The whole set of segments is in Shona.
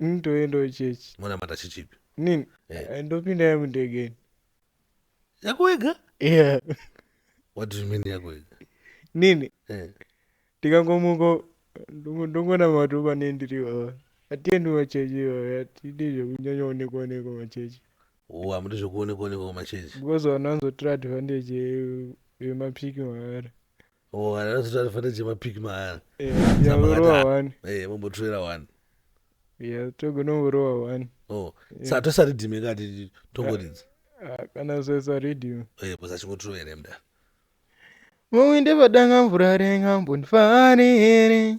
Ini toendawo chechi. Monamata chechipi? Nini? Eh. Eh, Ndopinda yangu ndegeni. Yako wega? Yeah. What do you mean yako wega? Nini? Eh. Ndikangomuka ndongo- ndongonamata pane ndiri iwawa. Hatiendi kumachechi iwawa. Hatidi zvekunyanya onekwa onekwa machechi. Oh, hamudi zvekuonekwa onekwa kumachechi. Because vanhu vanozotora advantage ye- yemapiki mahara. Oh, anazoti anofanira chema pick maaya. Eh, Saka makati, yaurova ah, wani. Eh, mombotirera one. Yeah, togona kurova one. Oh, saka tosari dhime kati tongoridza. Ah, kana sesa radio. Eh, bhosa achingotirovera mda. Mawinde padanga mvura renga mbondifarire.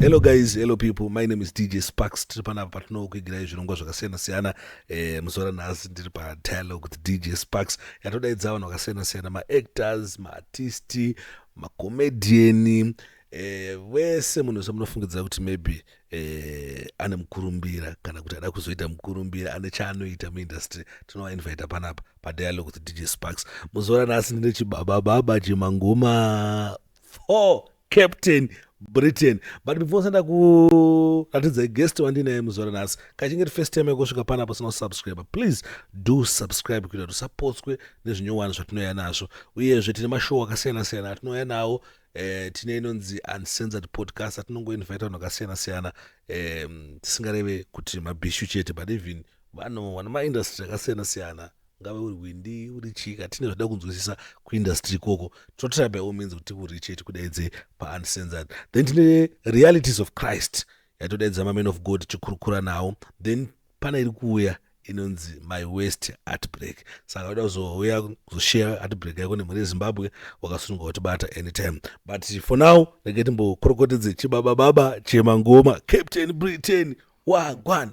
hello guys hello people my name is dj sparks tiri panapa patinokwigirai zvirongwa zvakasiyana-siyana eh, muzuva ranhasi ndiri padialogue with dj sparks yatodaidza vanhu vakasiyana-siyana maactors maartisti macomediani eh, vese munhu wese munofungidzira kuti maybe eh, ane mukurumbira kana kuti ada kuzoita mukurumbira ane chaanoita muindustry tinovainvita panapa padialogue with dj sparks muzuva ranhasi ndine chibabababa chemangoma for captain britain but before senda kuratidza guest wandinaye muzora nhasi kachinge ti first time yekusvika panapo sina kusubscribe please do subscribe kuita kuti usapotswe nezvinyowani zvatinouya nazvo uyezve tine mashow akasiyana-siyana atinouya nawo eh, tine inonzi uncensored podcast atinongoinvita vanhu vakasiyana-siyana eh, tisingareve kuti mabhishu chete but even vanhu vana maindustry akasiyana-siyana ngave uri hwindi uri chii katine zvada kunzwisisa kuindustry ikoko totry by all means kuti kuriche tikudaidze pauncensored then tine realities of christ yatodaidza maman of god tichikurukura nawo then pana iri kuuya inonzi my west artbreak saka uda kuzouya kuzoshare artbreak yako nemhuri yezimbabwe wakasununga kutibata anytime but for now rege timbokorokotedze chibabababa chemangoma captain britain wagwan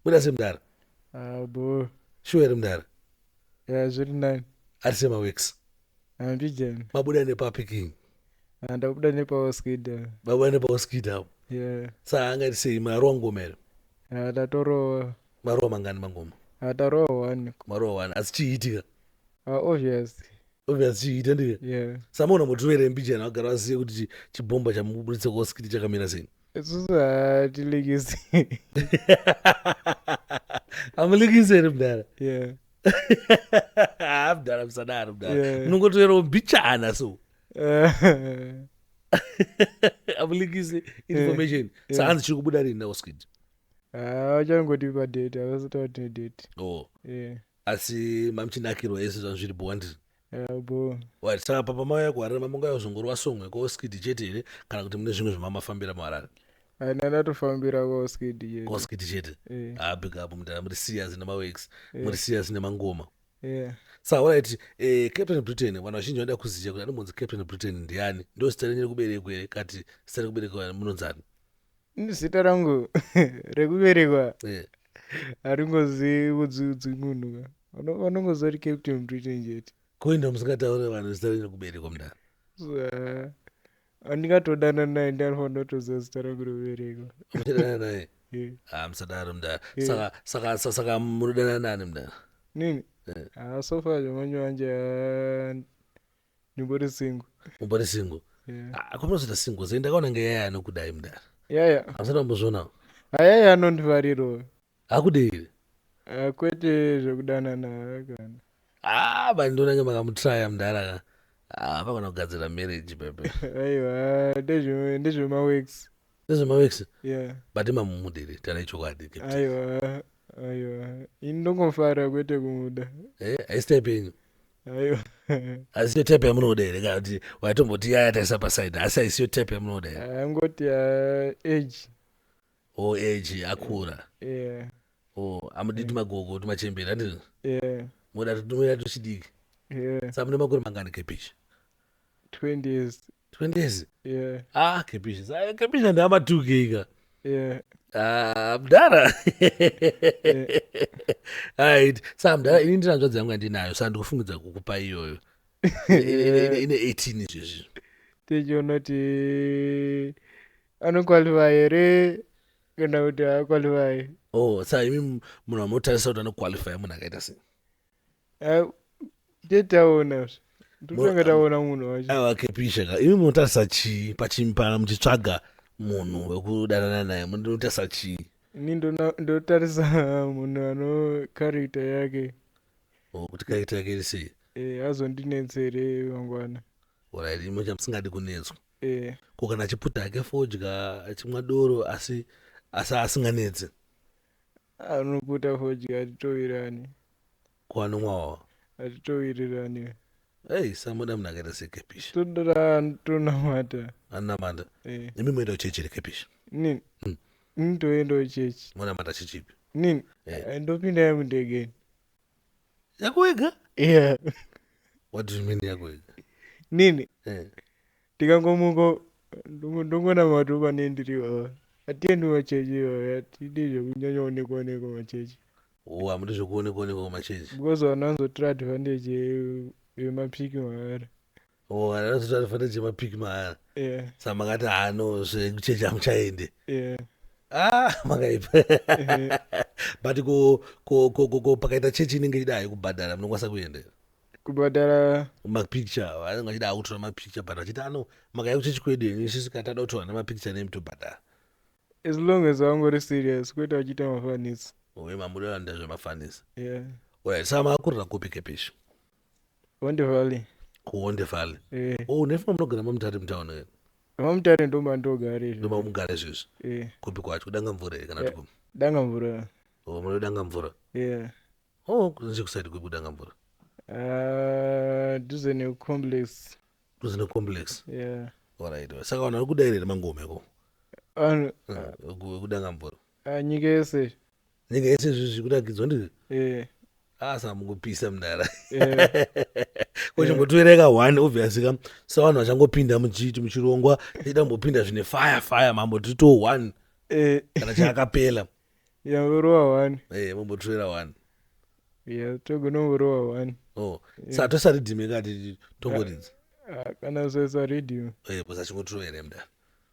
buda semdara abo shuwa here mudara ya zviri nani ari sema weeks handijani mabuda nepapi king Ah, ndakubuda nepaoskida mabuda nepaoskida apo ya saa angati sei marowa ngoma here Ah, tatorowa marowa mangani mangoma atarowa one marowa wani asi chiitika Ah, obvious obvious chiita ndiye ya samaona motiwere mbijana vagara vazive kuti chi- chibhomba chamuburitsa kwaoskidi chakamira sei isusu hatilikisi amulikisi here mudhara yeah. haa mudhara musadaro mudhara Yeah. munongotoyerawo mbichana so Eh, amulikisi information Yeah. sahanzi chiri kubuda rini naosquid ah, vachangoti padate havasati vatine date oh yeah. asi mamuchinakirwa ese zvangu zviri bho wandiri Elbow. Right, saka papa mauya kuharare mambongauya kuzongorova song yako skidi chete here kana kuti mune zvimwe zvamamafambira muharare Ana ndatofambira ko skidi chete. ko skidi chete Eh, ah big up mudhara muri serious nemawex muri serious nemangoma yeah. sa alright eh, captain britain vanhu vazhinji vanoda kuziva kuti anombonzi captain britain ndiani ndo zita renyu rekuberekwa here kati zita rekuberekwa munonzi ani zita rangu rekuberekwa eh. haringozi kudziudzi munhu ka vanongoziva kuti captain britain chete koinda musingataure vanhu zita renyu rekuberekwa mudhara andingatodana naye ndianofa ndotoziva zita rangu rekuberekwa muchadana naye ah, musadaro mudhara saka munodana nani mudhara nini eh. ah, sofa zvamanje wanje ah, ndimbori single umbori single yeah. Ah, kwamunozoita single zai ndakaona nge yaya anokudai mudara yaya yeah. hamusati mambozvionawo ayaya anondivariro akudeire ah, kwete zvekudanana kana ah bani ndonange makamutraya mudara ka ah, pagona kugadzira marriage pepe aiwa ndezvemawex ndezvemawex yeah. but mamumudiri tana ichokwadi aiwa aiwa ini ndongofarira kwete kumuda eh, haisi type yenyu aiwa haisiyo type yamunoda here kana kuti waitomboti yaya taisa paside asi haisiyo type yamunoda here angoti ah, age o age akura yeah o amudi tumagogo tumachembera ndizvo yeah moda tunoita tuchidiki yeah sa mune makore mangani kepichi 20 years 20s yeah. ah kepisha sa kepisha ndama 2 giga yeah. Ah, mdara right sa mdara ini ndina nzvadzi yangu andinayo sa ndikufungidza kukupa iyoyo ine 18 izvezvi tichiona kuti anokwalifa here kana kuti haakwalifai oh sa imi munhu amotarisa kuti anokwalifai munhu akaita sei Ah, tete taona zve. Ndotanga taona munhu wacho. aiwa kepisha ka imi munotarisa chii pachimpara muchitsvaga munhu wekudanana naye munotarisa chii Ini ndona- ndotarisa munhu ano character yake. Oh, kuti kaita yake iri sei Eh, azondinetsere mangwana. orit imo chamusingadi kunetswa Eh, ko kana achiputa hake fodya achimwa doro asi asi asinganetse Anoputa fodya hatitovirani. Ko anomwa wawa. Hatitovirirani. Hey, samuda munhu akaita sekepishi. Todara tonamata. Anamata. Eh. Nemi moenda kuchechi here kepishi? Nini? Mm. Nini toendawo chechi. Monamata chechipi? Nini? Eh. Ndopinda yangu ndege. yako wega yeah what do you mean yako wega nini yeah. tikangomuko ndongona matu pane ndiri oh, atiendi machechi iyoyo atidi zvekunyanya onekwa onekwa machechi oh amudi zvekuonekwa onekwa machechi because vananzotora advantage yemapsiki maari Oh, anozoita anofanira chema pick maana. Yeah. Saka makati ah no zvekuchechi hamuchaende. Yeah. Ah, makaipa. Yeah. But ko ko ko ko, ko pakaita chechi inenge ichida hayo kubhadhara munokwanisa kuenda. here? Kubhadhara mapicture vanenge vachida akutora mapicture but vachiti ano makaya kuchechi kwedu henyu isusu kana tado kutora nemapicture nemi tobhadhara as long as vangori serious kwete vachiita mafanisi. uye mamuda vanoda zvemafanisa Yeah. oya saka makurira kupi kepisho honde valley kuhonde valley eh oh nefuma munogara mamutare mutown eh? mamutare ndomandogara izvi ndomamugara izvezvi eh kupi kwacho kudanga mvura here kana kuti kupi danga mvura oh munodanga mvura yeah oh kunze kusaidi kupi kudanga mvura Ah, duze necomplex kunze necomplex yeah alright saka vanhu vari kudaira here mangoma iko vanhu Eh, ku- kudanga mvura ah, nyika yese nyika yese izvi zvikunakidzwa ndizvo eh. asa ah, mukupisa mdara eh. kochimbotoereka eh. one obviously ka savanhu vachangopinda muchiti muchirongwa tichida kumbopinda zvine fire fire mambo titoo one kana chaakapela yangorova one mambotoera one togonomborova one oh, sa tosaridhime kati tongoridzi ah, ah, kana soisa ridhime bcause achingotoera mdara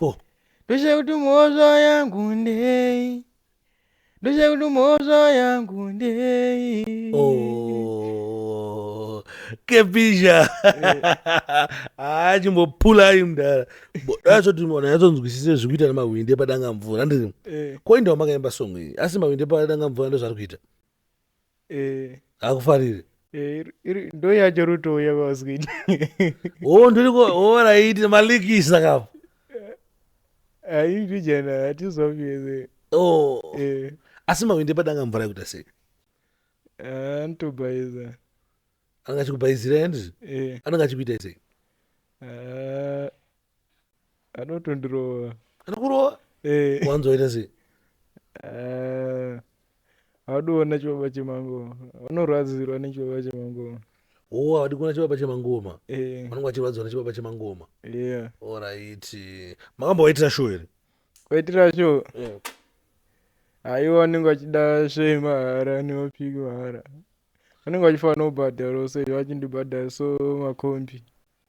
4 ndoshaya kuti mhosva yangu ndei ndoshaya kuti mhosva yangu ndei Oh, kepisha haa chimbopulai mdara nyatsonzwisise zviri kuita nemahwindi epadanga mvura ndiri Eh, koindawo makaimba song iyi asi mahwindi epadanga mvura ndozvari kuita Eh. Akufarire. Eh, ndo yacho ruto ya vaskid. Oh, ndiri ko oh right, maliki isaka. Ayi vijana hatizoviyeze. Oh. Eh. Asi mawinde padanga mvura yekuta sei? Eh, ntobaiza. Anga chikubaizira ndi? Eh. Anga chikuita sei? Eh. anotondirova anokurova Eh, wanzoita sei ah, audiona chibaba chemangoma unorwadzirwa nechibaba chemangoma oo havadi kuona chibaba chemangoma Eh, vanenge vachirwadziwa nechibaba chemangoma yeah oraiti makambovaitira show here kwaitira sho aiwa vanenge vachida shei mahara nemapiki mahara vanenge vachifanira kubhadharawo so vachindibhadhara so makombi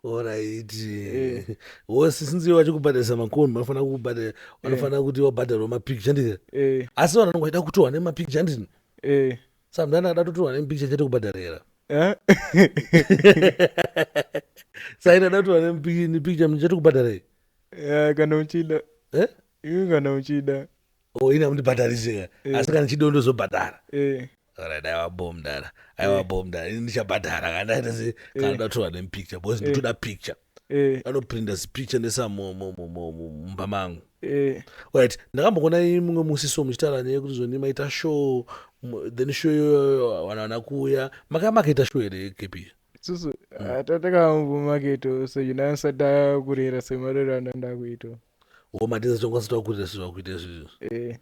oraiti eh. wose since iwe vachikubhadharisa makoni vanofanira kukubhadhara eh. vanofanira kuti wabhadharwa mapicture ndizvo eh. asi vanhu vanonga vaida kutorwa nemapicture ndizvo samdani ada totorwa nemipicture chete kubhadharira saini ada kutorwa nemipicture chete kubhadharei kana uchida iwe kana uchida oh ini amundibhadharise eh. asi kana chido ndozobhadhara eh. Alright, aiwa bho mdara aiwa eh. bho mdara ini ndichabhadhara kandaitase kana ndoda kutorwa nemupicture because ndotoda picture anoprinda zipicture nesamumba mangu right ndakamboona mumwe musi so muchitaura neye kuti zvoni maita show then show iyoyo vana vana kuuya makaya makaita show here kepi susu hmm. ah, tatakambomake to so yunasada kurera semarero anandakuito wo matiza chokwanisa takuita sezvo vakuita izvizvo eh.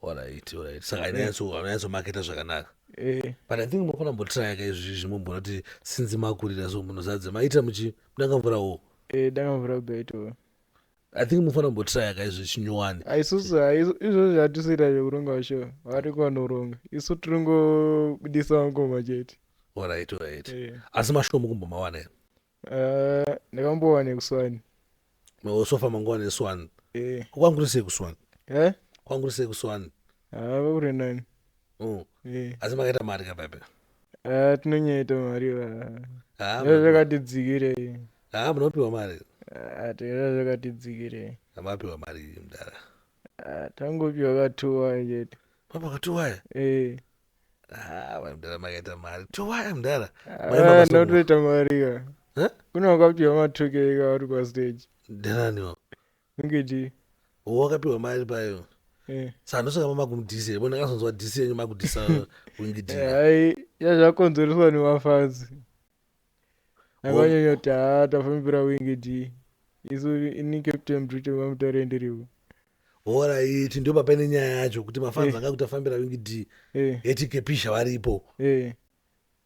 orit orit saka ainyatsomakaita zvakanaka eh. but i think mokona mbotirayaka izvizvi mombona kuti sinzi makurira so munozadza maita muchi mudanga mvura wo eh, danga mvura beto i think mufanira mbotirayaka izvi chinyowani isusu izvozvo hatisiita zvekuronga vasho vari kwanoronga isu tiringobudisa mangoma chete orit orit asi mashoko mukumbomawana here Ah, ndakambowa nekuswani maosofa manguva neswan Eh, kwanguri sei kuswan eh? kwanguri sei kuswan Ah, vakuri nani Mm. Eh, asi makaita mari ka bebe ah, tinonyaita mari va Ah, Zvaa zvakati dzikirei ah, munopiwa mari Ah, tera zvakati dzikirei amapiwa mari iyi mdara Ah, tangopiwa katuwa chete mapakatuwaya Eh, Ah, mai mdara makaita mari towaya mdara Mai mama Ah, Somuka. ndotoita mari ka Huh? kuna wakapiwa matukei ka uri pastage ndananiwo unge chii wakapiwa mari payo Eh. sanosaka mama kumudhisa here bona kasonzwa dhisi yenyu makudhisa wingidhira hai yazvakonzereswa nemafazi akanyanya kuti haa tafambira wingi dii isu ini captain britain vamutaure ndiriwo horaiti ndo papaine nyaya yacho kuti mafanzi anga eh. kuti afambira wingi dii eh. eti kepisha varipo eh.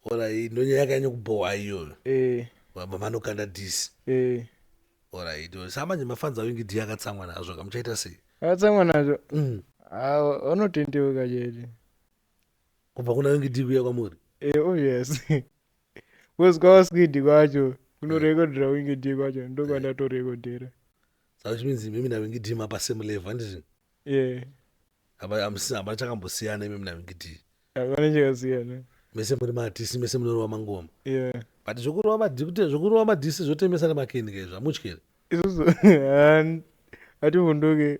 horaiti ndo nyaya yakanyanya kubhowa iyoyo vanokanda disi horaiti sa manje mafanzi awingi dii akatsamwa nazvo kamuchaita sei akatsamwa nazvo mm. vanotendeuka chete kubva kuna wingi dii kuya kwamuri oh yes Because kwawaskidi kwacho kunorekodhera wingi dhi kwacho ndokwandatorekodhera. Saka which means imimi nawingi dhi mapa same level handiti? Yeah. Apa hamusina hapana chakambosiyana imimi nawingi dhi. Hapana chakasiyana. Mese muri maartist mese munorova mangoma. Yeah. But zvokurova madhi kuti zvokurova madhisi zvotemesa nemakeni kaizvo hamutyi here? Isusu hativhunduke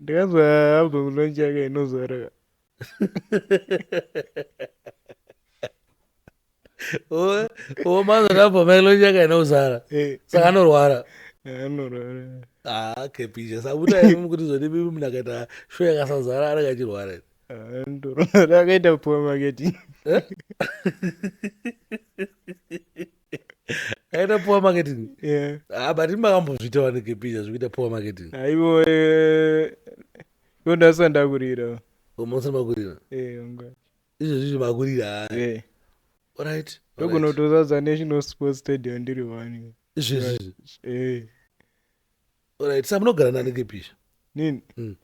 ndikazwa album launch yake inozora omanzwa album yake launch yake inozara eh. saka anorwara anorwara ah kepisha sabuta imi kuti zvodi bibi munhu akaita show yakasazara anenge achirwara akaita poor marketing eh? aita poor marketing yeah. ah, but makambozviita wanike pija zvekuita poor marketing aivo eh, ivo ndasa ndakurira umosa oh, makurira eh, izvo zvizvi makurira eh. right ndokunotozadza national sports stadium ndiri wani izvezvizvi eh. right sa munogara nanike pisha nini mm.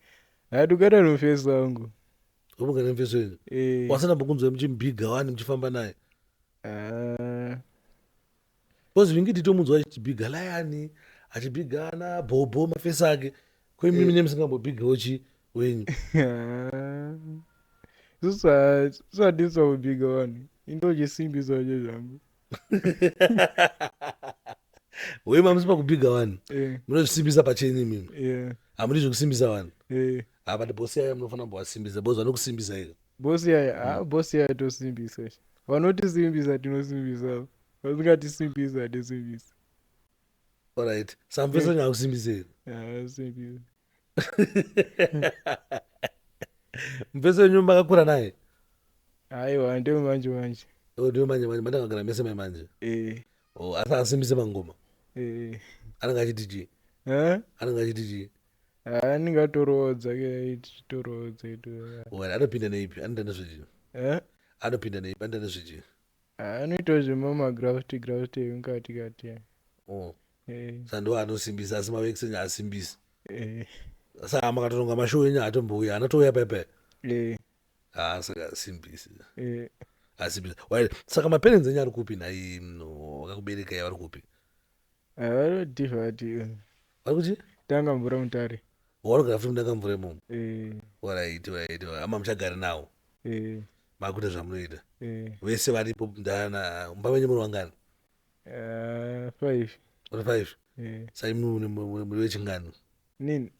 atukata nomfeso wangu omugara nomfeso wenyu eh. wasana bokunzwa muchimubhiga wani muchifamba naye Ah. Because vingi titomunzwa achibhiga layani achibhiga ana bhobho mafesi ake ko imimi eh. nemusingambobhigawo chi wenyu isusu hatisi pakubhiga vanhu indochisimbi zvacho zvangu wema musi pakubhiga vanhu eh. munozvisimbisa pachenyu imimi eh. hamudi zvekusimbisa vanhu Ah, but boss yaya munofanira kumbovasimbisa boss vanokusimbisa ika. bosi yaya ah, bosi yaya tosimbisa sh. vanotisimbisa tinosimbisa vasingatisimbizi hatisimbisi Alright. Samvesa nyakusimbisa ika. Ah, simbisa Mvesa wenyu makakura naye. aiwa ndewe manje manje Oh, ndiwe manje manje mandakagara mese mai manje. Eh, Oh, asi asimbise mangoma. eh. Anenge achiti chii? Huh? Anenge achiti chii? Ah, ndingatoroodza ke titoroodza itu Well, anopinda neipi anoita nezvechii Eh? anopinda neipi anoita nezvechii Ah, anoitawo zvemamagravity gravity emukati kati eh. oh. Eh, sandiwo anosimbisa asi mavekiseni haasimbisi eh, saa makatoronga mashow enyu haatombouya anotouya pepe eh, haa saka asimbisi eh. asimbisi Well, saka maparents enyu ari kupi nhai mm, wakakuberekai vari kupi Ah, vanodhivha ati eh, Vari kuti? Tanga mvura mutare. Wanogara futi mudanga mvura imomo? Eh. Alright, alright. Hama muchagari nawo. Eh. Makuita zvamunoita. Eh. Vese varipo ndana mumba menyu muri vangani? Uh, five. Uri five? Eh. Sai muri vechingani? Nini?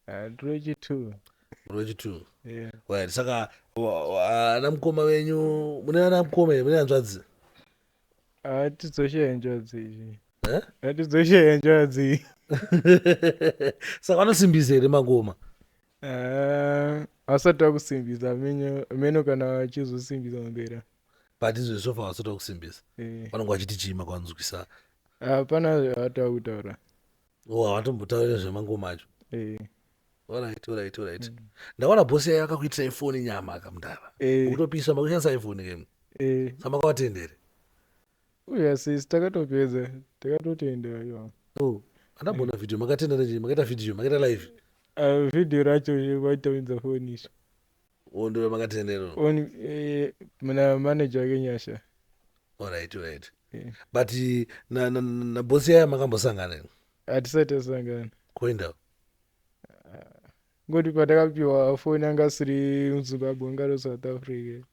Ah, ndiri wechitwo muri wechitwo yeah. right saka wa- wa- ana mukoma venyu mune ana mukoma here mune hanzvadzi Ah, tidzoshe njodzi iyi Eh? Ah, tidzoshe njodzi iyi saka vanosimbisa here mangoma Ah, asati akusimbisa mino mino kana vachizosimbisa mbera but izvo sofa vasati vakusimbisa Eh, vanenge vachiti chii makwanzwisa hapana zvavatava kutaura oh havatombotauri nezvemangoma acho eh. orit orit orit mm. ndaona bosi yayo akakuitira ifoni nyama akamdara eh. ukutopisa makushandisa ifoni kemu eh. samakawatendere uya sis takatopedza takatotendera yo oh andambona mm. video makatendera chii makaita video makaita live uh, video racho vaitaunza foni icho Uwo ndiwe makatendero. On eh, mna manager wake Nyasha. Alright, alright. Yeah. But eh, na na, na, na boss yaya makambosangana here? Hatisati tasangana. Koenda. Ngoti patakapiwa foni anga asiri muZimbabwe anga ari South Africa.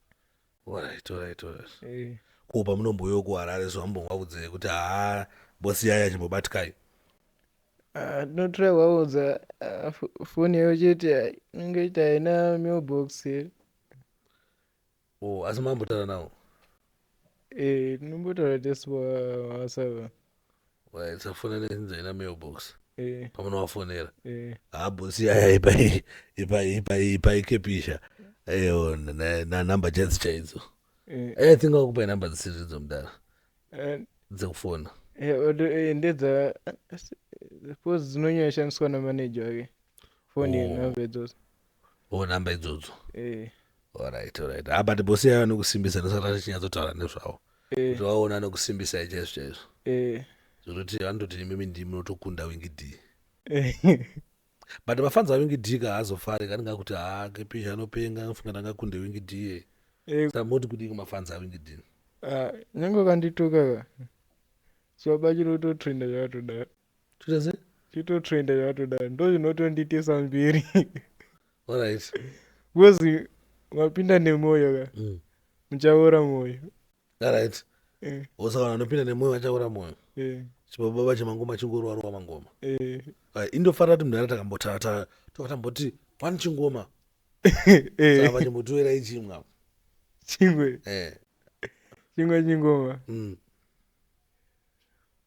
Alright, alright, alright. Eh, Ko pamunomboyo kuHarare so ambongovaudze kuti haa bosi yaya chimbobatkai. ah, ndinotora kuvaudza ah, fo- foni yayo chete ah, inenge ita haina mailbox here Oh, asi mambotaura nawo. Eh, tinombotaura tesu pawasava safona nezinza ina mailbox eh. pamunovafonera eh. habosi ah, yaya ipaikepisha eyo nanumber chadzi chaidzo eh. i think akupai number dzisiri idzo mudara dzekufona ndedza suppose dzinonyanya shandiswa namanager wake foni oh. number idzodzo oh number idzodzo eh. alright alright ah, but bosi yayo anokusimbisa ndosaka tachinyatsotaura nezvavo eh. kuti vaona anokusimbisai chaizvo chaizvo eh. zvekutoti vanototi imimi ndii munotokunda wingi d eh. but mafans awingi d ka haazofari kanenge akuti haa ah, kepish anopenga anofunga ndangakunde wingi d ye eh. sa moti kudii kumafans awingi d ah, nyange ukandituka ka chibaba chiri kutotrenda zvakatodaro Toita sei? Chitotrenda chatodaro ndozvinotonditisa mberi. Alright. Because mapinda nemwoyo ka. Mm. Muchaora mwoyo. Alright. Eh. Osaka vanopinda nemwoyo vachaora mwoyo. Eh. Chibaba bache mangoma chingorwa rowa mangoma. Eh. Right. Indofara kuti mudhara takambotata tokatamboti one chingoma. Eh. Saka vachimbotoera ichimwa. Chingwe. Eh. Chingwe chingoma. Mm.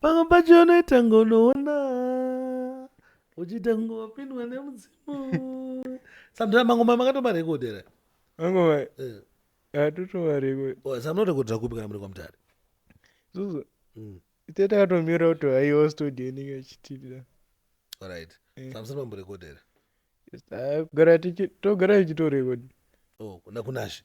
pamwe pacho unoita ngonoona uchiita ngopindwa nemudzimu sandira mangoma makatomarekodera mangoma eh. atotomarekodsamunorekodera kupi kana muri kwamutare zuzu mm. ite takatomira kuti aiwa studio inenge ichitibira orit eh. samusiri mamborekodera togara tichitorekodera oh, kuna kunashe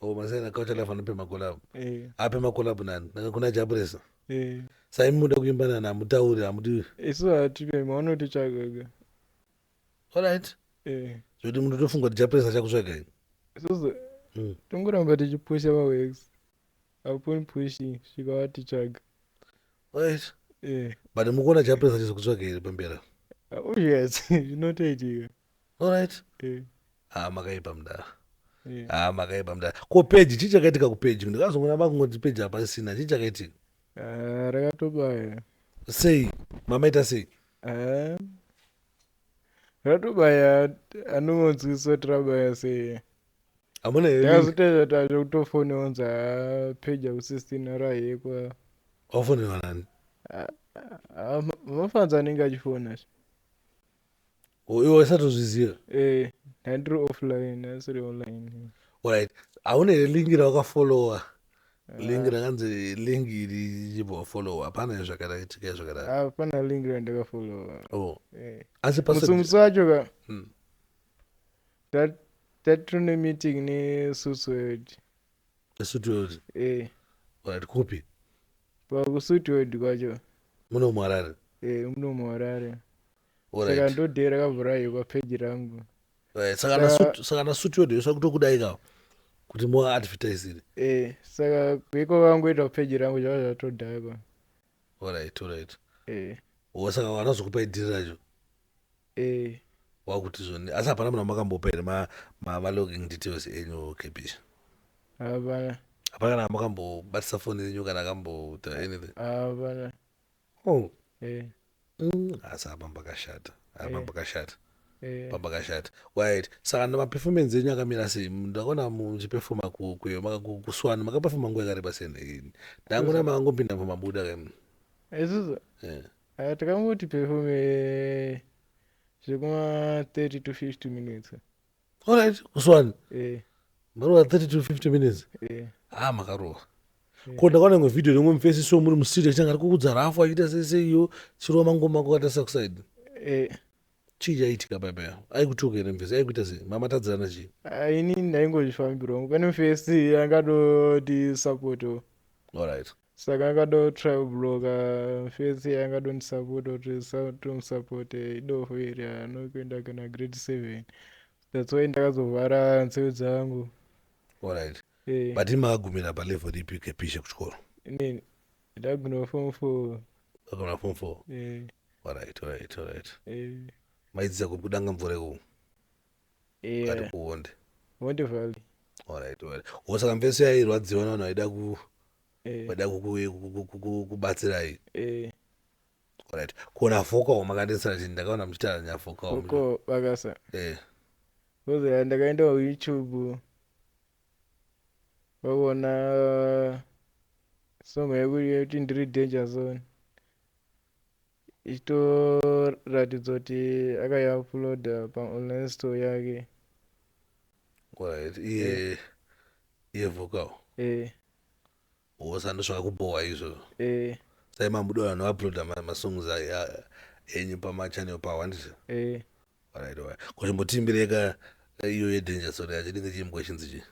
Oh, masai nakaucha live anopema collab. Eh, Apema collab nani? Naka kuna Jabresa. eh. Sai muda kuimba nani hamutauri hamudi. isu hatipemi vanotitsvagaga All right. Eh, Zvekuti munhu tofunga kuti Jabresa achakutsvaga ini. isusu Mm. tongoramba tichipusha mawex upon pushing svika vatitsvaga All right. Eh, But mukuona Jabresa achizokutsvaga here pambera. uzviyatsi zvinotoitika Alright. Eh. Ah, makaipa mdara. Eh. Ah, makaipa mdara. Ko page chii chakaitika ku page? Ndikazongona makungoti page apa isina. Chii chakaitika? Ah, rakatobaya. Sei? Mama ita sei? Ah. Ratobaya anomonzwisa trabaya sei? Amuna here? Ndazoteza tacho kutofone onza ah, page aku 16 rahekwa. Ofone wanani? Ah, ah, mafanza anenge achifona. Uyo waisatozviziva. Eh, handiri offline, asiri online. Alright. Hauna here link rawakafollowa? Link rakanzi link iri chibva wafollowa. Hapana here zvakaitika zvakadaro. Hapana link randakafollowa. Oh. Eh. Asi pasa Musumutsi wacho ka. Hmm. That that tune meeting ne Suswed. Suswed. Eh. Alright, kupi? Pa Suswed kwacho. Muno muharare. Eh, muno muharare. saka ndodheera kavhura iyo papeji rangu eh, saka nasuti yodhesva kutokudai kawo kuti muadvertisire eh, saka kuiko vangoita kupeji rangu zvava zvatodhakwa orit orit eh. saka wanazokupa idhiri racho eh. wakuti zvoni asi hapana munhu amakambopa here malogging details enyu kepisha hapana hapana kana amakambobatisa foni yenyu kana akamboita anything hapana oh eh mm asi apa pakashata apa eh. pakashata eh. papakashata wait saka nemaperformance enyu akamira sei ndakaona muchipefoma kuyo kuswana makapefoma nguva yakareba sei neini ndangona makangopinda pamabuda kemu isusu eh. ah, takangoti performe zvekuma 30 to 50 minutes orit kuswani eh. marova 30 to 50 minutes eh. ha ah, makarova eh. ko ndakaona imwe vhidhiyo rimwe mufesi so muri musiri achitanga ari kukudza rafu achiita seseiyo chirova mangoma ako kata sakusaidi chii chaiitika paipa yavo aikutuka here mufesi aikuita sei mama tadzirana chii ah, ini ndaingozvifambirwa pane mufesi angatoti sapoto orit saka akadao trial blocker face iye angadondisapota kuti tomusapota idofo iri haano kuenda kana grade seven that's why ndakazovhara nzeve dzangu Alright. Eh. But makagumira palevel ripi kepisha kuchikoro? inini ndagona form four Makagumira form four. eh, Alright, alright, alright. eh. Maidzidza kupi kudanga mvura ikoko? ari kuhondi hondi valley alright well wo saka mfesi yairwadziwa navanhu vaida ku eh. vaida kubatsirai eh. alright kona fokawo makandisira chini ndakaona muchitaura nyafokawo foko vakasa eh kozoya ndakaenda youtube vakuona uh, song yekuti ndiri danger zone ichitoratidza kuti akaiuploada paonline store yake Alright, iye iye vocal eh wosando zvakakubhowa izvozvo eh sai mamudo vanhu vauploada ma- masongs a- a- enyu pamachannel pawo handizvo eh Alright, alright. ko chimbotiimbirei ka ka iyo yedanger sore yacho chinenge chimbo chinzi chii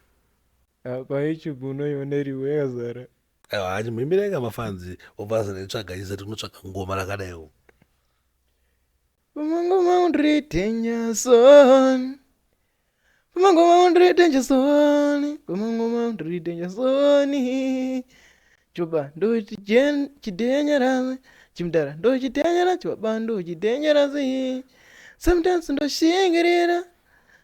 Ah, pa youtube unoiona iriwe yakazara aiwa hanyi muimbira inga mafanzi obva zanaitsvaga iza tinotsvaga ngoma rakadaiwo Pamangoma undri danger zone. Pamangoma undri danger zone. Pamangoma undri danger zone. Chibaba ndochi jen chidenyerasi. Chimdara ndochi denyerasi. Chibaba ndochi denyerasi. Sometimes ndoshingirira.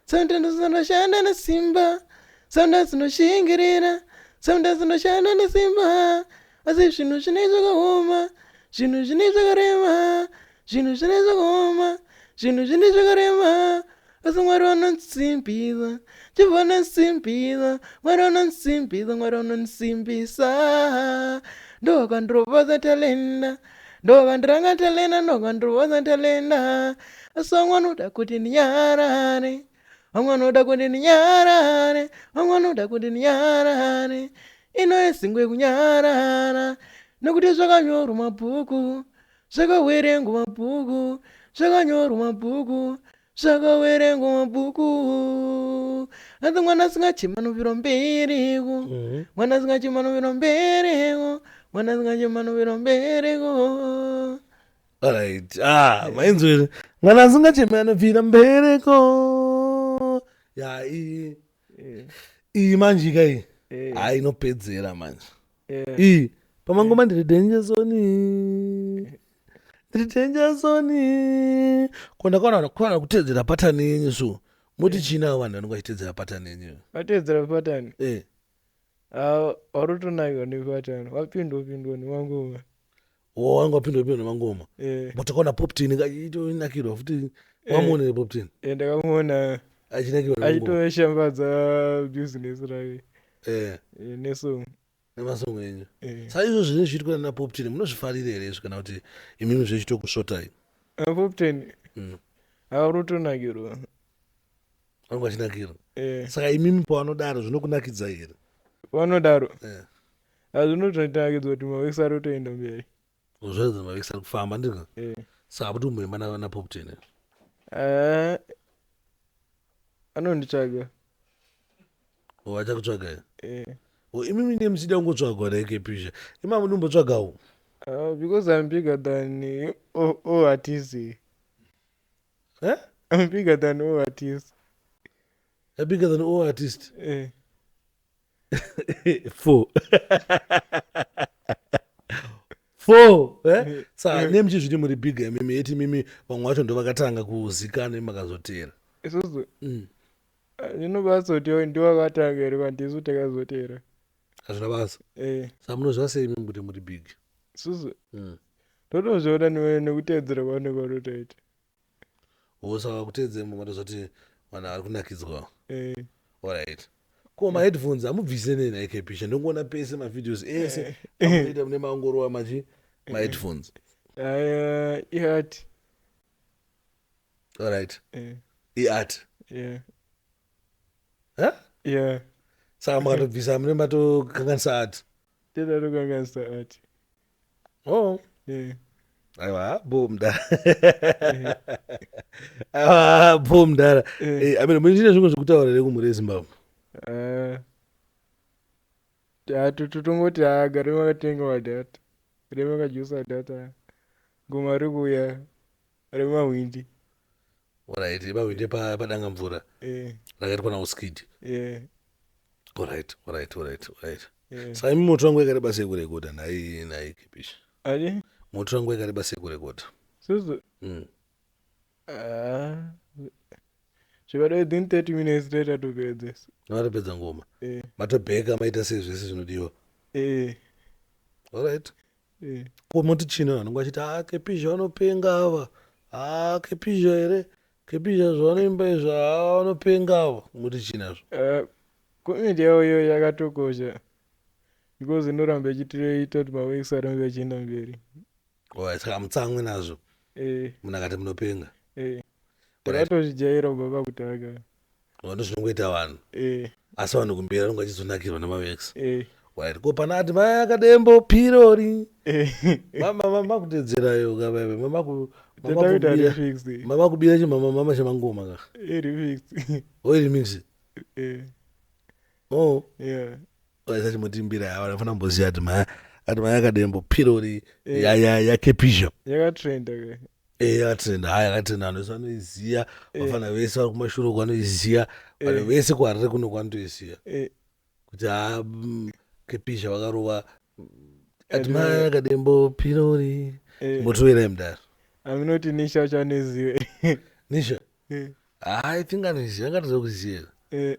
sometimes unoshanda nesimba sometimes unoshingirira sometimes unoshanda nesimba asi zvinhu zvine zvakaoma zvinhu zvine zvakarema zvinhu zvine zvakaoma zvinhu zvine zvakarema asi mwari vanonsimbisa jehova vanonsimbisa mwari vanonsimbisa mwari vanonsimbisa ndovakandiropodza talenda ndovandiranga talenda ndovandiruvadza talenda asi vamwe vanoda kuti ndinyarare vamwe vanoda kuti ndinyarare vamwe vanoda kuti ndinyarare ino isingwe kunyarara nokuti zvakanyorwa mabhuku zvakawerengwa mabhuku zvakanyorwa mabhuku zvakawerengwa mabhuku asi mwana asingachema anovira mbereko mhm. mwana asingachema anovira mbereko mwana asingachema anovira mbereko alright ah mainzwere mwana asingachema anobvira mbereko yai eh. iyi manjika iyi eh. ha inopedzera manje iyi pamangoma ndiri denje zoni ndiri denje zoni ko ndakaona kuana kutedzera patani yenyu so moti chinawo vanhu vanenge vachitedzera patani yenyu vatedzera patani warotonayo nepatani wapindwa pindwa nemangoma wanga wapindwa pindwa nemangoma eh. but akaona poptin itonakirwa futi eh. wamuonere poptin eh, ndakamuona achitoshambadza business rake nesong nemasong enyu sa izvo zvine zviitwa nana poptin munozvifarire here izvi kana kuti imimi zvechitokusvotai ah, poptin mm. avarotonakirwa vangu vachinakirwa saka imimi pavanodaro zvinokunakidzai here vanodaro azvinototangidza kuti mavekisi ari kutoenda mberi zvoedza mavekisi ari kufamba ndizvo eh. saka kuti kumboimba napopten eh, anonditsvaga vachakutsvaga eh. oh, imi mine muchida kungotsvagwa naekepisha imama ndimbotsvagawo ah, because im bigger than all artists eh? im bigger than all artists bigger than all artists eh. four four eh? sa ne muchizviti muri big mimi yeti mimi vamwe vacho ndo vakatanga kuzikana imakazotera isusu mm. ndinobazoti ah, ndiwakatanga here kwandisu takazotera hazvina basa eh. sa munozviva sei mimi kuti muri big isusu mm. totozviona nekuteedzera kwaunenge watotoita usava kuteedze mumwe ndozoti vanhu vari kunakidzwa eh. orit ko maheadphones amubvise nei naikepisha ndongoona pese mavideos ese eh. amunoita mune maongorova machi eh. maheadphones iat orit iat saka makatobvisa mune matokanganisa ati tedatokanganisa ati Oh. Eh. Aiwa bho mdara. Eh. Aiwa bho mdara. Eh. eh I mean mune zvimwe zvekutaura here kumhuri yeZimbabwe? Eh. Uh, totongoti agare makatenga madhata. Remakajusa data. Ngoma rikuya. remahwindi Alright, remahwindi pa- padanga mvura eh, rakaitwa nauskid eh, Alright, alright, alright, alright. eh. saka imi moto wangu yakareba sei kurekodha nhai nhai kipish ati moto wangu yakareba sei kurekodha susu Mm. ah, zvivada within 30 minutes toita topedzesa matopedza ngoma eh, matobheka maita sei zvese zvinodiwa eh. Alright. Eh. Ko moti chino vanenge vachiti ah kepizha vanopenga ava. Ah kepizha here? Kepizha zvavanoimba izvo ah vanopenga ava. Moti chini azvo? Uh, comment yavo iyoyo yakatokosha because inoramba ichitiita kuti maweeks arambe achienda mberi. Oh, saka mutsamwe nazvo. Eh. Munhu akati munopenga. Eh. ndakatozvijaira kubva pakutanga vanhu zvinongoita vanhu eh, asi vanhu kumberi vanenge vachizonakirwa namavex eh, right ko pana ati mai akadembo pirori eh. makuteedzerayo kavaive Tenda kuti ari fixed, eh. mamakubira chimama mama chamangoma ka iri fixed. oiri mix Eh, o yeah. aisachimutimbira ava vanofana kumboziva kuti maya ati maya akadembo pirori Eh. ya- ya- yakepisha yakatrenda ke Eh, yakatrenda haya yakatrenda vanhu vese vanoiziva Eh. vafana vese vari kumashure uko vanoiziva vanhu Eh. vese kuharare kuno kwanotoiziva Eh, kuti ha mm, kepisha vakarova ati Ati maya maya- akadembo pirori eh, motoverai mudaro aminoti nisha uchanozive nisha Eh, i think anoiziva angatozokuziva eh,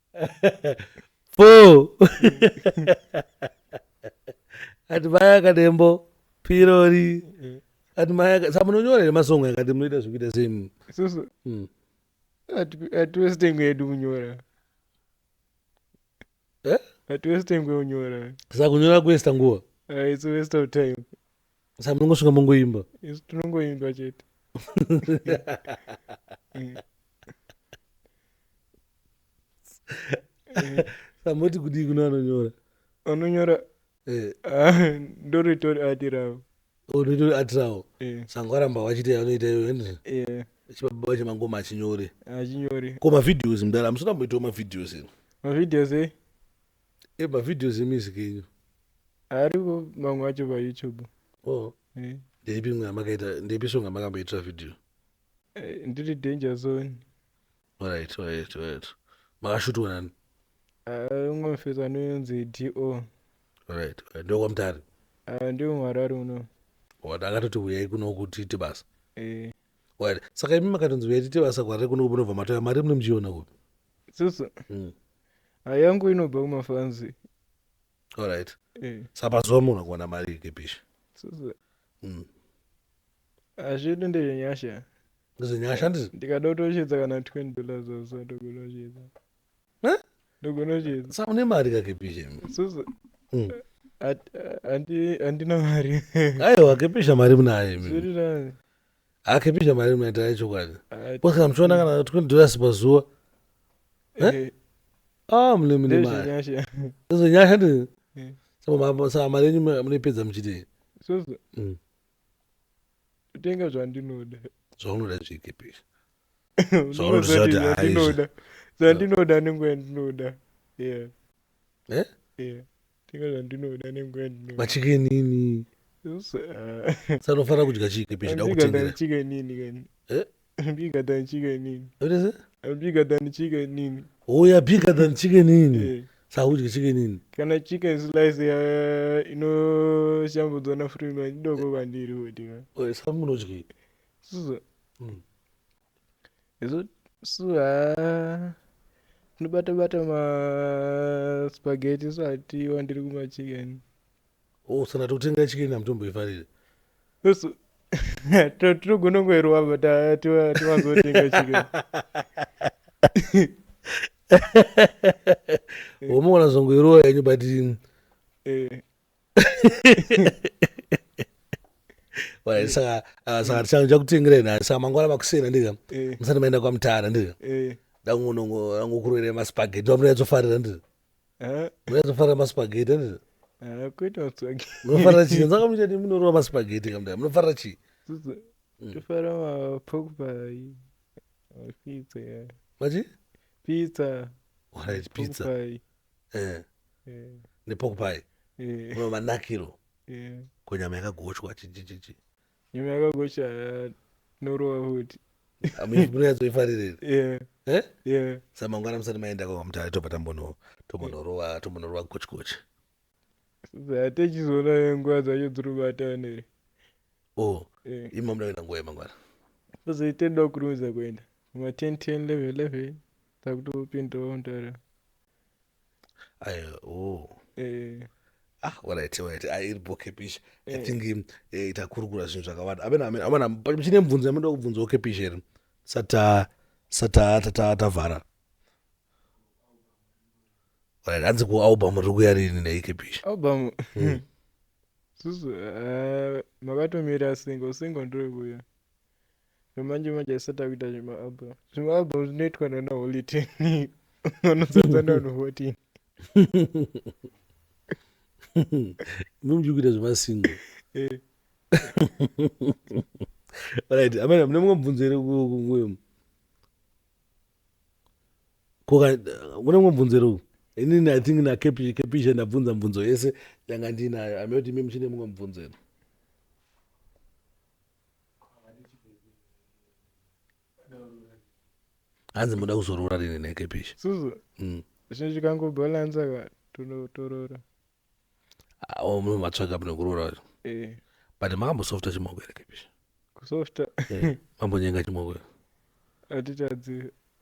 Four. Ati vaya akadembo pirori. Ati maya aka- sa munonyora here masong akati munoita zvekuita same. Susu Mm. hatiwesitengwe yedu kunyora. Eh? Hatiwesitengwe kunyora. Saka kunyora kuesta nguva. Uh, it's a waste of time. sa munongosvika mongoimba isu tinongoimba chete Mm. Eh, samoti kudii kuno anonyora anonyora Eh, ah, ndoritori ati ravo unoita atirawo Eh, sango aramba wachita yanoita iyo ende eh, chibaba vacho mangoma achinyore achinyori ko mavideos mdara hamusina kumboitawo mavideos ino mavideos e E ma videos e music enyu. Ariko mamwe acho pa YouTube. Oh. Eh. Ndeipi mwe amakaita ndeipi song amakamboitira video? Eh, ndiri danger zone. Alright, alright, alright. Makashutwa nani? Eh, umwe mfetsi anonzi DO. Alright, alright. Ndokwa mutare. Eh, ndiri muharare uno. Wada akatoti huyai kuno kuti tibasa. Eh. Wada. Saka imi makatonzi huyai tibasa kwarare kuno kubva mataya mari mune mjiona kupi? susu Mm. Ah, yangu inobva kumafanzi Alright. Eh, Saka zuva munhu akuwana mari yekepishi. susu Mm. hazvidi ndezvenyasha Ndizvinyasha ndizvi. ndikada kutochedza kana 20 dollars also ndogona kuchedza Eh? ndogona kuchedza Saka une mari kakepishi. susu Mm. hat- ah, handi- handina mari Aiwa kepisha mari munayo imi. zviri nani akipizve mari inoita yechokwadi ah, koskana muchiona kana 20 dollars pazuva eh? eh. ah, mune mune mari izo nyasha ndi eh. saka mari yenyu munoipedza muchitei mm. kutenga zvandinoda zvaunoda zvikipisha zvaunoda zvandinoda nenguva yandinoda yeah. yeah. yeah. tenga zvandinoda nenguva yandinoda machikenini Sasa, ah, sanofanira kudya chii kepi chida ambika kutengera tanichika nini kani Eh? ambika tanichika nini Yotese? ambika tanichika nini oh ya bigger than chikenini Eh, sakudya chikenini kana chicken slice ya- inoshambudzwa nafrima idoko kwandiri kuti ka Oh, saka munodyei sasa Mm. isu haa tinobata bata maspageti isu hatiwa ndiri kumachicken oh saka tokutenga chicken hamutomboifarire isu to- tinogona kungoirova but ah, tiwa- tiwanzotenga chicken womona zvongoirova yenyu but Eh, saka ah, saka changu chakutengerei nhasi saka mangwana makusena ndika eh. musati maenda kwamutara ndika eh. dangokurwere maspageti vamunayatsofarira ndika eh. munayatsofarira maspageti ndika munofarira chii sakamuita ti munorova maspageti kamda munofarira chii mm. tofara mapokpa pizza machi pizza right pizza nepork pie uno manakiro ko nyama yakagochwa chichichichi nyama yakagochwa norova futi munoyatsoifarirei eh? eh? samangwana musati maenda kwamutare tobva tambono tombonorova tombonorova gochikochi zatachizoona nguva dzacho dziri kubatanere o oh, eh. imi mamuda kuenda nguva yemangwana tozoitenda kukurumidza kuenda ma 10 10 11 11 takutopindawo mutare oh. eh. ah alright alright ah, iri boke pisha i eh. think um, eh, takurukura zvinhu zvakawanda amana chine mubvunzo yamunoda kubvunza oke pisha iri sata sata tata tavhara alright hanzi kualbum ri kuya rini neike pisha album hmm. susu eh, makatomira single single ndiri kuya No manje manje asi takuita zvima album. Zvima album zvinoitwa nana Holy Ten. Vanozadza nanu 14. Mumji kuita zvima single. Eh. Right, amene mune mumwe mubvunzo ere kunguyo. Koka mune mumwe mubvunzo ere uku. Inini I think na kepisha kepisha ndabvunza mubvunzo yese yanga ndinayo. Amene kuti mimi chine mumwe mubvunzo ere. hanzi muda kuzoroora rini nekepisha suzu mm. zvinhu zvikangobalansa ka tonotorora ah, oh, munhu matsvaga mune kuroora vacho eh. but makambosofta chimoko here kepisha kusofta eh, mambonyenga chimoko here hatitadzi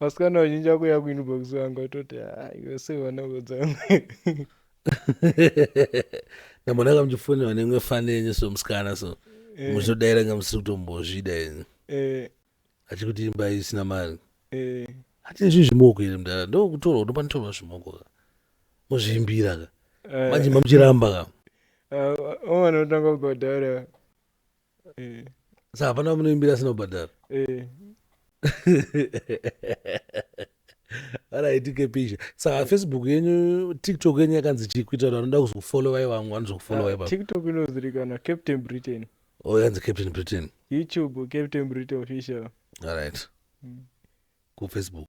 vasikana vazhinji vakuya kuinbox vanga toti ah, iwe sei vana vodzanga ndambona kamuchifonera nemwe fani yenyu so musikana so eh. muchitodaira nga musiri kutombozvida yenyu eh. achikuti imba isina mari eh. hati izvi zvimoko iri mdara ndokutorwa ndopa nditorwa zvimoko ka mozviimbira ka manje mamuchiramba ka ah, omwana otanga kugodaira eh. sa hapana munoimbira asina kubhadhara eh. araitike pisha saka facebook yenyu tiktok yenyu yakanzi chii kuita kuti vanoda kuzokufollowai vamwe vanozokufollowai ah, tiktok inozivikanwa captain britain o oh, yanzi captain britain youtube captain britain official aright mm. kufacebook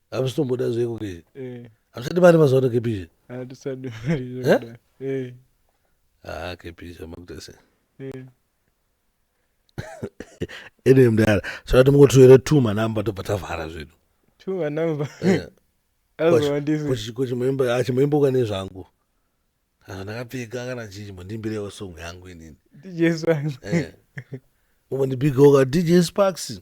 hamusitomboda zveko ke eh. hamusati mari mazuva ano kepisha hatisadi mari haa eh? eh. kepisha makuita sei ene mdara saka timungotuyere two manumber tobva tavhara zvedu two manumber azowandizichimboimboka ah, nezvangu ah, ndakapfeka kana chii chimbondimbirewo song yangu inini umbondibigawo ka dj sparks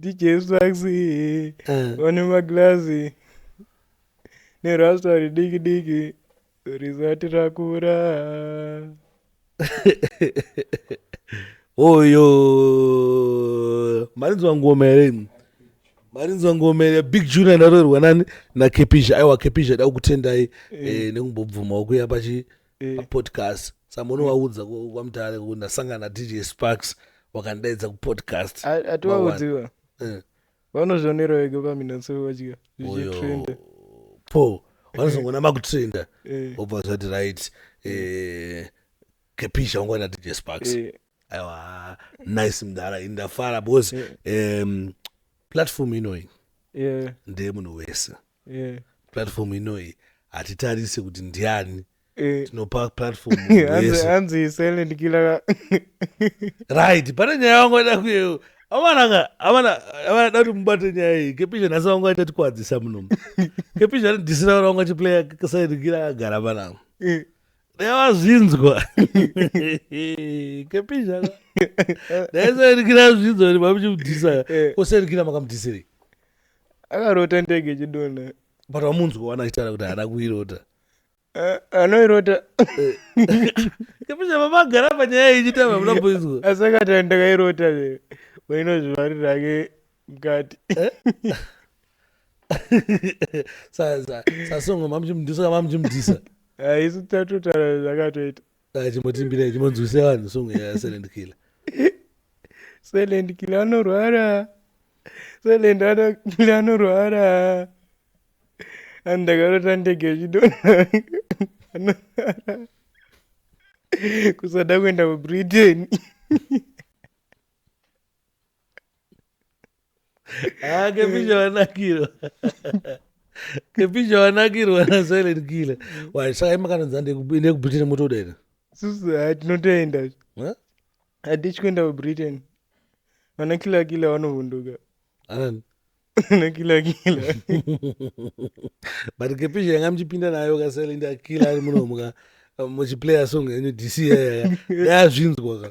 DJ Swaxy Eh. vane maglazi nerasta ridiki diki risati rakura. oyo marinzwa ngoma here imi marinzwa ngoma here big junior ndaroerwa nani nakepisha aiwa kepisha da kukutendai eh, nekumbobvumawo kuya pachi eh. papodcast samono waudza kwamutare kuti ndasangana dj sparks wakandaidza kupodcast atiwaudziwa eh. vanozvionera wega paminatso vadya zvichitrenda po vanozongona makutrenda eh. obva zvati right kepisha eh, wangwana dj sparks eh. aiwa nice mdara indafara because um, platform inoyi ndeyemunhu wese yeah. platform inoyi hatitarise kuti ndiani eh. tinopa platform hanzi silent killer right pane nyaya wangu aida kuyeyo amananga amana amada kuti mubate nyaya iyi kepisha nhasi wangu achatikwadzisa munomu kepisha anodhisira vana wangu achiplaya silent killer akagara panangu eh. ndayavazvinzwa kepisha ndaisairikira zvinzwa kuti mamuchimudhisa eh. kosairikira makamudhisirei akarota ndege ichidonha but wamunzwa wana achitaura kuti haana kuirota eh, anoirota kepesha baba agara panyaya ichita vamuna kuizwa asi akati andakairota le wainozvivarira ake mukati eh? sasongo mamuchimudisa mamuchimudisa ah, isu tatotaura zvakatoita ah, chimotimbira chimonzwise vanhu song yaselend killer selend killer anorwara selend killer anorwara and ndakarota ndege ichidona anorwara kusada kuenda kubritain Ah, kepisha wanakirwa kepisha wanakirwa na silent killer mm. why saka imakananza ndekubine ku britain motoda ina susu ah, tinotoenda hatityi kuenda ku britain vana killer killer vanovhunduka anani na kila kila but kepisha yanga muchipinda nayo ka silent killer ari munomuka muchiplayer song yenyu dc yaya yazvinzwa ka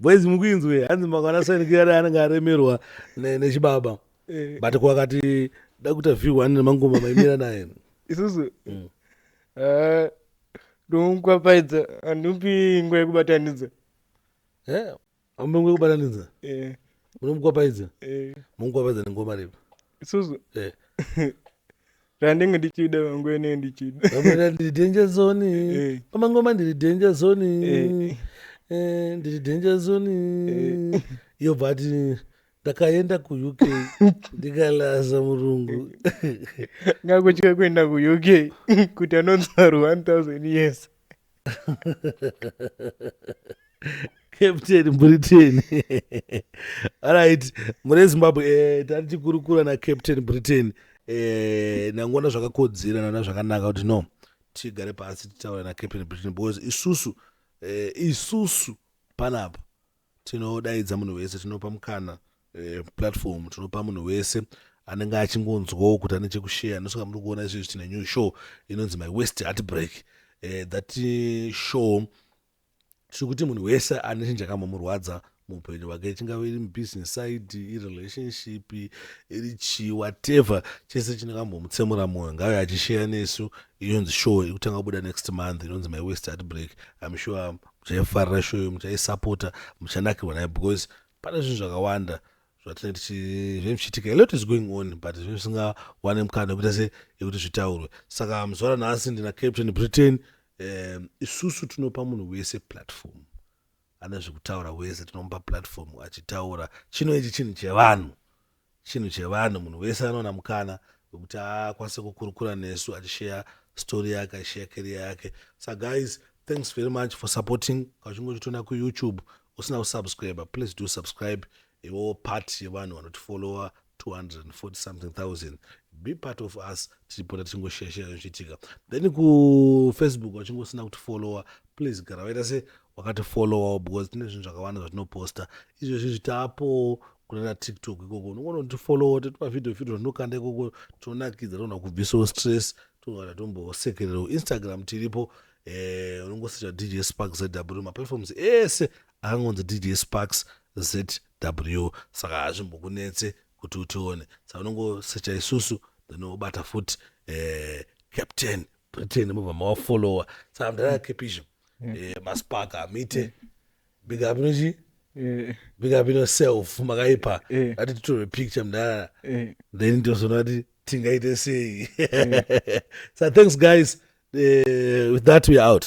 boys mukuinzwe hanzi makwana sanikiyari anenge aremerwa nechibaba eh. but kwakati da kuita view ane mangoma maimira naye isusu mm. eh, ndomukwapfaidza handipi ingwa yekubatanidza eh, Amumengwe kubatanidza. Eh. Munomukwapaidza. Eh. Mumukwapaidza nengoma ripi? Isusu. Eh. Randenge ndichida mangwe ne ndichida. Amuna ndiri danger zone. Eh. Pamangoma ndiri danger zone. Eh. Eh, ndiri danger zone. Eh. Yo but ndakaenda kuuk ndikalaza murungu ngakutya kuenda kuuk kuti anonzarwa 1000 years captain britain alright mune zimbabwe eh, tati tikurukura nacaptain britain eh, nangona zvakakodzera nana zvakanaka kuti no tigare pasi titaura nacaptain britain because isusu eh, isusu panapa Tinodaidza munhu wese, tinopa mukana eh, platform tinopa munhu wese anenge achingonzwawo kuti ane chekusheya nosoka muri kuona izvezvi tine new show inonzi my west heartbreak eh, that show tiri kuti munhu wese ane chinhu chakamomurwadza muupenyu hwake chingave iri mubusiness side irelationship iri chii whatever chese chinokambomutsemura mwoyo ngave achisheya nesu inonzi show ikutanga kubuda next month inonzi my west heartbreak im sure muchaifarira show iyo muchaisapota muchanakirwa nayo because pane zvinhu zvakawanda zvatinenge zvinenge zvichiitika alot is going on but zvinenge zvisingawane mukana wekuita se yekuti zvitaurwe saka muzuva ranhasi ndina captain britain um isusu tinopa munhu wese platform ane zvekutaura wese tinomupa platform achitaura chino ichi chinhu chevanhu chinhu chevanhu munhu wese anoona mukana wekuti akwanise kukurukura nesu achisheya story yake achisheya keria yake sa guys thanks very much for supporting kauchinge uchitona kuyoutube usina kusubscribe please do subscribe iwo part yevanhu vanotifollowa 240 something thousand be part of us tichipota tichingosheshe zvichiitika then kufacebook wachinge usina kutifollowa please gara waita se wakatifollowawo because tine zvinhu zvakawanda zvatinoposta izvezvi zvitaapowo kunana tiktok ikoko unogona kutifollowa totipa video video zvatinokanda ikoko tonakidza togona kubvisawo stress togona tombosekererawo instagram tiripo eh, unongosecha dj spark zw maplatforms ese akangonzi dj sparks zw saka hazvimbokunetse kuti utione saka unongosecha isusu then obata futi eh, captain britain mobva mawafollowa saka mdara kepisha mm -hmm. eh, maspark amite big up inochi eh. big up ino self makaipa eh. ati titore picture mdara then ndozona ti tingaite sei so thanks guys uh, with that we out